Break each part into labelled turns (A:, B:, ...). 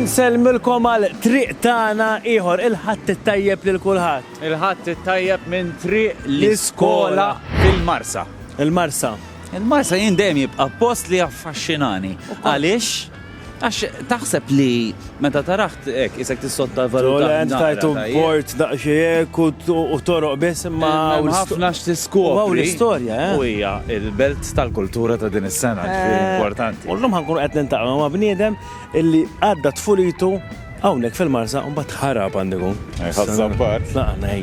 A: Unselmilkom għal triq tagħna ieħor il-ħadd it-tajjeb lil kulħadd. Il-ħadd it-tajjeb
B: minn triq l-iskola fil-Marsa. Il-Marsa.
A: Il-Marsa jien
B: dejjem jibqa' post li affaxxinani. Għaliex? Għax taħseb li Meta tarah hekk qisek tissottovalutah naqra. Tole int tajtu
A: b'port daqsxejn hekk u toroq biss imma hawn ħafna x'tiskopri.
B: U hawn l-istorja, eh.
A: U hija
B: l-belt tal-kultura ta' din is-sena, ġifieri importanti. U llum ħa nkunu qed niltaqgħu
A: ma' bniedem illi għadda tfulitu hawnhekk fil-Marsa u mbagħad ħa Rapandegu. Ħa Żabbar.
B: Tlaqna hi.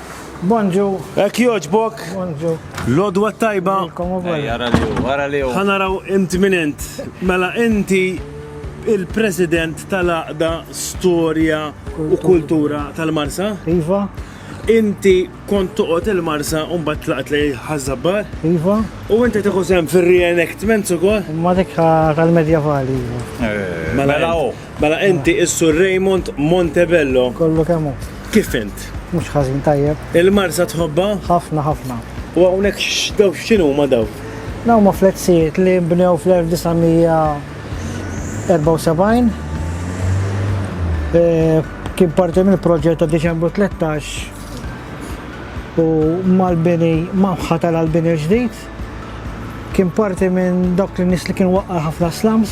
C: Bonġu. Ek joġbok.
A: Bonġu.
C: Lodwa tajba.
A: Għara li u,
B: għara li u. Għanaraw int minn
A: int. Mela inti il-president tal-aqda storja u kultura tal-Marsa? Iva.
C: Inti
A: kont toqgħod il-Marsa u mbagħad tlaqt li ħażabbar? Iva. U
C: inti tieħu sehem
A: fir-reenactments ukoll? Ma dik
C: tal-medjevali. Iva. Eh, mela, mela Mela
A: inti is-Sur Raymond Montebello. Kollu kemm hu.
C: Kif int?
A: Mhux ħażin tajjeb.
C: Il-Marsa tħobbha?
A: Ħafna ħafna.
C: U hawnhekk
A: x'daw x'inhuma daw? Dawn huma fletzijiet
C: li nbnew fl-1974. Kien parti mill-proġett ta' Diċembru 13 u mal-bini ma nħatar għall-bini l-ġdid. Kien parti minn dawk in-nies li kien waqqa' ħafna slums.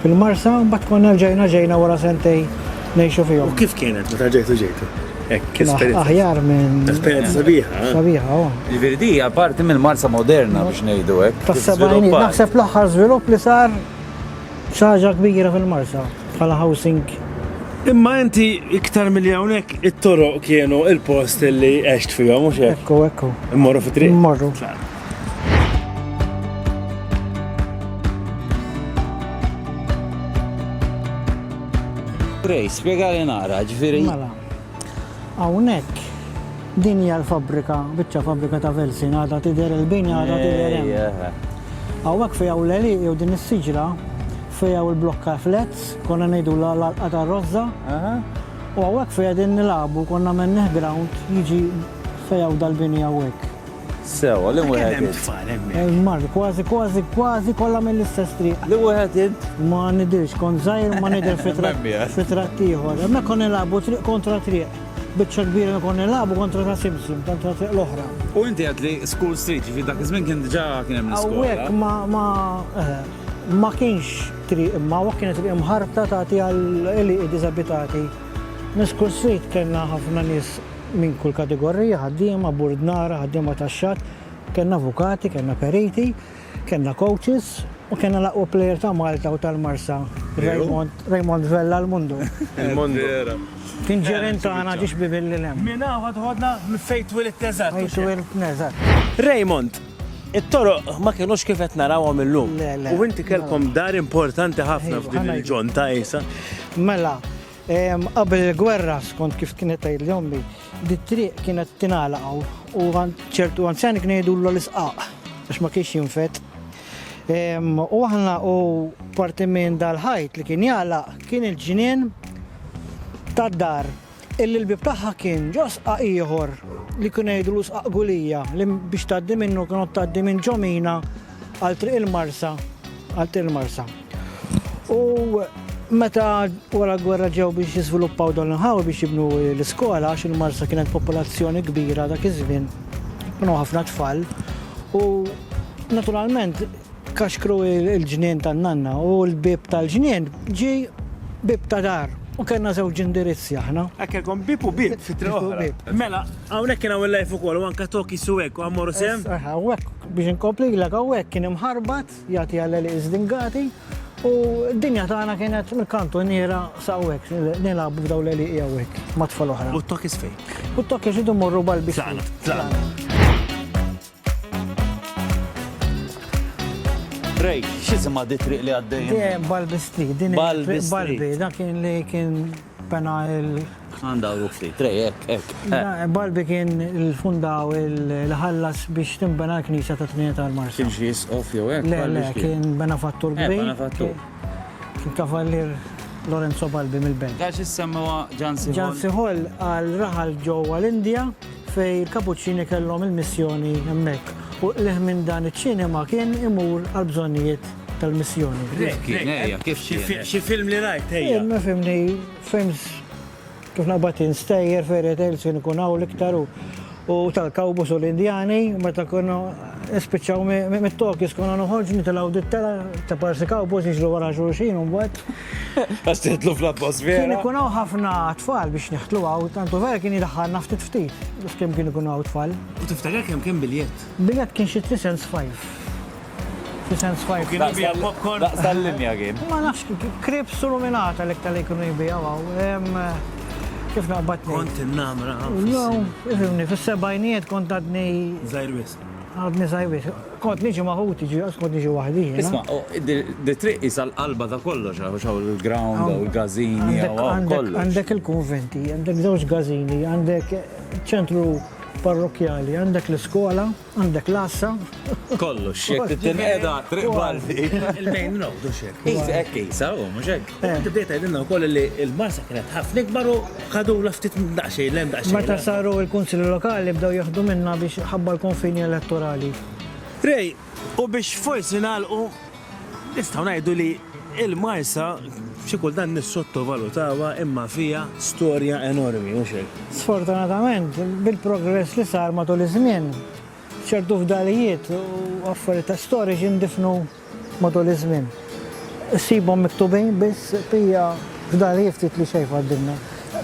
C: Fil-Marsa, mbagħad konna rġajna ġejna wara sentejn ngħixu fihom. U kif kienet
A: meta rġajtu ġejtu? Hekk esperjenza. Aħjar minn.
C: Esperjenza sabiħa.
A: Sabiħa, oh. Jiġifieri
C: di hija
B: parti mill-Marsa moderna biex ngħidu hekk. Tas-sebgħin naħseb
C: l-aħħar żvilupp li sar xi ħaġa kbira fil-Marsa bħala housing Imma
A: inti iktar milli hawnhekk it-toroq kienu il-post li għext fihom mhux hekk. Ekku, ekku. Immorru fit-triq.
C: Immorru.
B: Ray, spjegali naqra, ġifieri. Mela.
C: Hawnhekk din hija l-fabbrika, biċċa fabbrika ta' Velsin, għadha tidher il-bini għadha tidher hemm. Hawnhekk fejn hawn l-għelieq jew din is-siġra fejn hawn il-blokka flats, konna ngħidu l-alqa tar-rożża. U hawnhekk fejn qegħdin nilagħbu konna mennih ground jiġi fejn hawn dal-bini hawnhekk. Sew, li
B: wieħed. Kemm hemm tfal hemmhekk? Il-Mark, kważi
C: kważi kważi kollha mill-istess triq. Li wieħed int?
B: Ma nidhirx, kont
C: żgħir u ma nidher fi tratt fi tratt ieħor. Hemmhekk konna nilagħbu triq kontra triq. Biċċa kbira li konna nilagħbu kontra ta' Simpson, tant ta' triq l-oħra. U inti għedt li
B: School Street, jiġifieri dak iż-żmien kien diġà kien hemm l-iskola. Hawnhekk ma ma eħe.
C: Ma kienx triq imma hawnhekk kienet triq imħarta tagħti għal għelieqi diżabitati. Minn School Street kellna ħafna nies. minn kull kategorija, ħaddiema, burdnara, ħaddiema tax-xatt, kellna avukati, kellna periti, kellna coaches u kellna l-aqwa player ta' Malta u tal-Marsa, Raymond, Raymond Vella l-Mundu. Il-Mundu.
A: Kien ġirien
C: tagħna ġie xbiebi lil hemm. Minn hawn ħadd ħodna
A: fejn twiledtna eżatt. Fejn twilidtna eżatt.
C: Raymond,
A: it-toroq ma kinux kif qed narawhom illum. Le, le. U inti kellkom
C: dar
A: importanti ħafna f'din il-ġonn ta' Għisa. Mela,
C: Qabel il-gwerra, skont kif kienet tgħidli ommi, dit-triq kienet tingħalaq hawn u ċertu anzjani kien jgħidullu l-isqaq għax ma kienx jinfet. U aħna u parti minn dal-ħajt li kien jgħalaq kien il-ġnien tad-dar illi l-bib tagħha kien ġo sqaq ieħor li kien jgħidlu sqaq gulija li biex tgħaddi minnu kienu tgħaddi minn ġomina għal triq il-marsa għal triq il-marsa. U meta wara l-gwerra ġew biex jiżviluppaw dan l-inħawi biex jibnu l-iskola, għax il-Marsa kienet popolazzjoni kbira dak iż-żmien, kienu ħafna tfal, u naturalment kaxkru il-ġnien tan-nanna u l-bieb tal-ġnien ġie bieb ta' dar. U kellna żewġ indirizzi aħna. Hekk kellkom bieb u bieb
A: fi triq oħra. Mela, hawnhekk kien hawn il-live ukoll u anke Toki Sueco, Amor u Sehem. Aha, u hekk biex
C: inkomplilek hawnhekk kien imħarbat. Jagħti għal għelieq żdingati u d-dinja tagħna kienet mill-kantuniera sa hawnhekk nilagħbu f'dawn l-għelieqi hawnhekk ma' tfal oħra. U t-tokkis fejn? U
A: t-tokkis idu
C: morru balbi. Tlaqna, tlaqna.
B: Rej, x'isima di triq li għaddejjem? Balbi
C: Street, din balbi, dak kien
B: li
C: kien Pena il. Għandha
B: u ftit, trej, hekk, hekk. Barbi kien
C: il-fundaw il-ħallas biex timbena l-knisja ta' Trinità l-Marsa. Kien xi jisqof jew hekk?
B: Le, le, kien
C: benefattur eh, kbir. Benefattur.
B: Kien
C: kavallier Lorenzo Balbi mill-Belġ. Għax issemmewa
B: Ġansi Hall. Ġansi Hall għal
C: raħal ġewwa l-Indja fej il-Kapuċċini kellhom il-missjoni hemmhekk. U l minn dan iċ-ċinema kien imur għal bżonnijiet tal-missjoni. Kif kien, ejja, kif
B: kien? Xi film li
A: rajt, ejja. Jien ma fimni
C: films kif naqbad instejjer fairy tales kien ikun hawn l-iktar u tal-kawbus u l-Indjani meta kienu nispiċċaw mit-Tokis konna noħorġ nitilgħu dittela ta' parsi kawbus jiġru wara xulxin u mbagħad. Għax tidħlu
B: fl-atmosfera. Kien
C: ikun hawn
B: ħafna
C: tfal biex neħtlu hawn, tantu vera kien jidħħalna ftit ftit biex kemm kien ikun hawn tfal. U tiftakar kemm kien
A: biljett? Biljett kien xi 3
C: cents 5. F'isem Swipe. Kien ibija l-popcorn. Daqs
A: tal-linja kien.
B: Ma nafx, krips
C: u luminata l-iktar li kienu jibijaw għaw. Kif naqbad nejn? Kont innamra.
A: Jo,
C: ifimni, fis-sebajnijiet kont għadni. Zajrwis.
A: Għadni zajrwis.
C: Kont niġi maħuti, ġi għas kont niġi wahdi. Isma,
B: di triq jisa l-qalba ta' kollox, għax għaw l-ground, għaw l-gazini, għaw kollox. Għandek il-konventi,
C: għandek zewġ gazini, għandek ċentru parrokjali, għandek l-skola. Għandek l-għassa. Kollox,
B: jekk titinqeda triq balti. Il-main road u
A: xek. Isa, ekk isa, u
B: mux ekk. Għandu bdiet għedinna u koll
A: li il-marsa kienet ħafna ikbar u ħadu la ftit daqxej, lem daqxej. Meta saru il-kunsili
C: lokali bdew jieħdu minna biex ħabba l-konfini elettorali. Rej,
A: u biex forsi nagħlqu Nistgħu ngħidu li l-Marsa xi kultant nissottovalutawha imma fiha storja enormi, mhux hekk? Sfortunatament,
C: bil-progress li sar matul iż-żmien, ċertu fdalijiet u affarijiet storiċi ndifnu matul iż-żmien. Issibhom miktubin biss pija fdalijiet ftit li xejn fadlilna.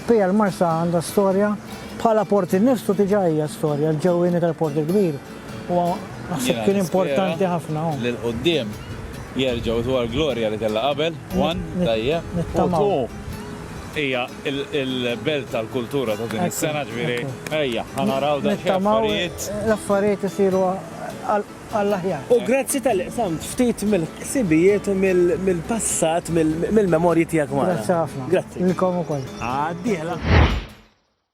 C: Pija l-Marsa għandha storja, bħala port innifsu diġà hija storja, l-ġewwieni tal-Port il-Kbir, Huwa naħseb kien importanti ħafna. Lil quddiem
B: jerġgħu dwar glorja li kellha qabel, one, tajjeb. Nittamaw.
C: Hija
B: il-belt tal-kultura ta' din is-sena ġifieri ejja, ħa naraw dan xi affarijiet. L-affarijiet isiru
C: għall-aħjar. U grazzi tal-li
A: qsamt ftit mill-ħsibijiet u mill-passat,
C: mill-memorji tiegħek
A: magħna. Grazzi ħafna. Grazzi. Lilkom ukoll.
C: Għad-dieħla.